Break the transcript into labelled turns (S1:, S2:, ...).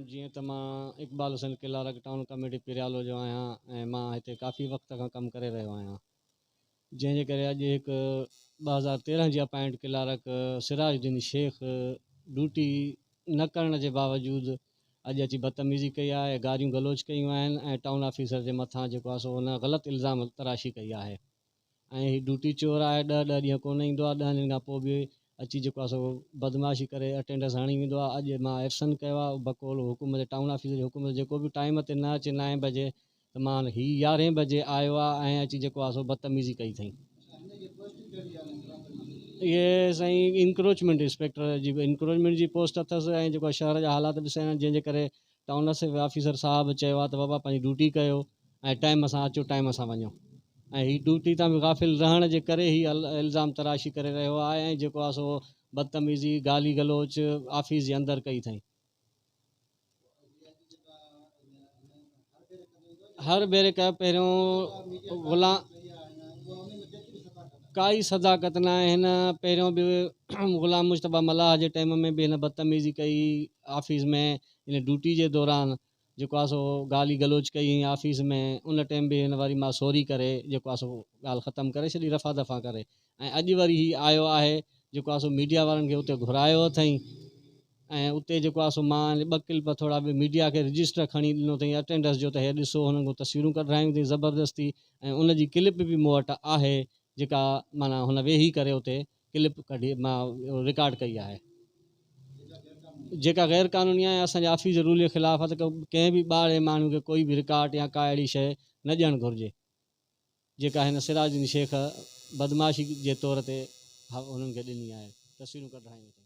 S1: جيئن ته مان Iqbal Hussain clerk town committee Periyalo جو آهيان ۽ مان هتي ڪافي وقت کان ڪم ڪري رهيو آهيان جنهن جي ڪري اڄ هڪ ٻه هزار تيرهن جي appoint clerk Siraj Uddin Shaikh duty نه ڪرڻ جي باوجود اڄ اچي بدتميزي ڪئي آهي، گاريون گلوچ ڪيون آهن ۽ ٽائون آفيسر جي مٿان جيڪو آهي سو هن غلط الزام تراشي ڪئي آهي ۽ هي ڊوٽي چور آهي ڏهه ڏهه ڏينهن ڪونه ايندو آهي ڏهن ڏينهن کان پوء به اچي جيڪو آهي سو بدمعاشي ڪري اٽينڊنس هڻي ويندو آهي اڄ مان ايبسنٽ ڪيو آهي بقول حڪم جي ٽائون آفيسر جي حڪم جي ڪو به ٽائيم تي نه اچي نائين بجي ته مان هي يارهين بجي آيو آ ۽ اچي جيڪو آ سو بدتميزي ڪئي اٿئين. اهي سائين انڪروچمينٽ انسپيڪٽر جي انڪروچمينٽ جي پوسٽ اٿس ۽ جيڪو شهر جا حالات به سهڻا جنهن جي ڪري ٽائون اسيف آفيسر صاحب چيو آ ته بابا پنهنجي ڊيوٽي ڪيو ۽ ٽائيم سان اچو ٽائيم سان وڃو ۽ هي ڊيوٽي تان به غافل رهڻ جي ڪري هي الزام تراشي ڪري رهيو آ ۽ جيڪو آ سو بدتميزي گالي گلوچ آفيس جي اندر ڪئي اٿئين. هر ڀيري ڪا پهريون غلام ڪائي صداقت نه آهي هن پهريون به غلام مشتبه ملاح جي ٽائيم ۾ به هن بدتميزي ڪئي آفيس ۾ هن ڊيوٽي جي دوران جيڪو آ سو گالي گلوچ ڪئي هئين آفيس ۾ ان ٽيم به هن وري مان سوري ڪري جيڪو آ سو ڳالھ ختم ڪري ڇڏي رفع دفع ڪري ۽ اڄ وري هي آيو آهي جيڪو آ سو ميڊيا وارن کي اتي گهرايو اٿئين ۽ اتي جيڪو آ سو مان ٻه ڪلپ ٿورا به ميڊيا کي رجسٽر کڻي ڏنو اٿئين اٽينڊنس جو ته هي ڏسو هنن کان تصويرون ڪڍرايون اٿئين زبردستي ۽ ان جي ڪلپ به مون وٽ آهي جيڪا معنيٰ هن ويهي ڪري اتي ڪلپ ڪڍي مان رڪارڊ ڪئي آهي جيڪا غير قانوني آهي ۽ اسان جي آفيس جي رول جي خلاف آهي ته ڪنهن به ٻاهرين ماڻهو کي ڪوئي به رڪارڊ يا ڪا اهڙي شيء نه ڏيڻ گهرجي جيڪا هن سراج الدين شيخ بدمعاشي جي طور تي هنن کي ڏني آهي تصويرون ڪڍرائيون اٿئي.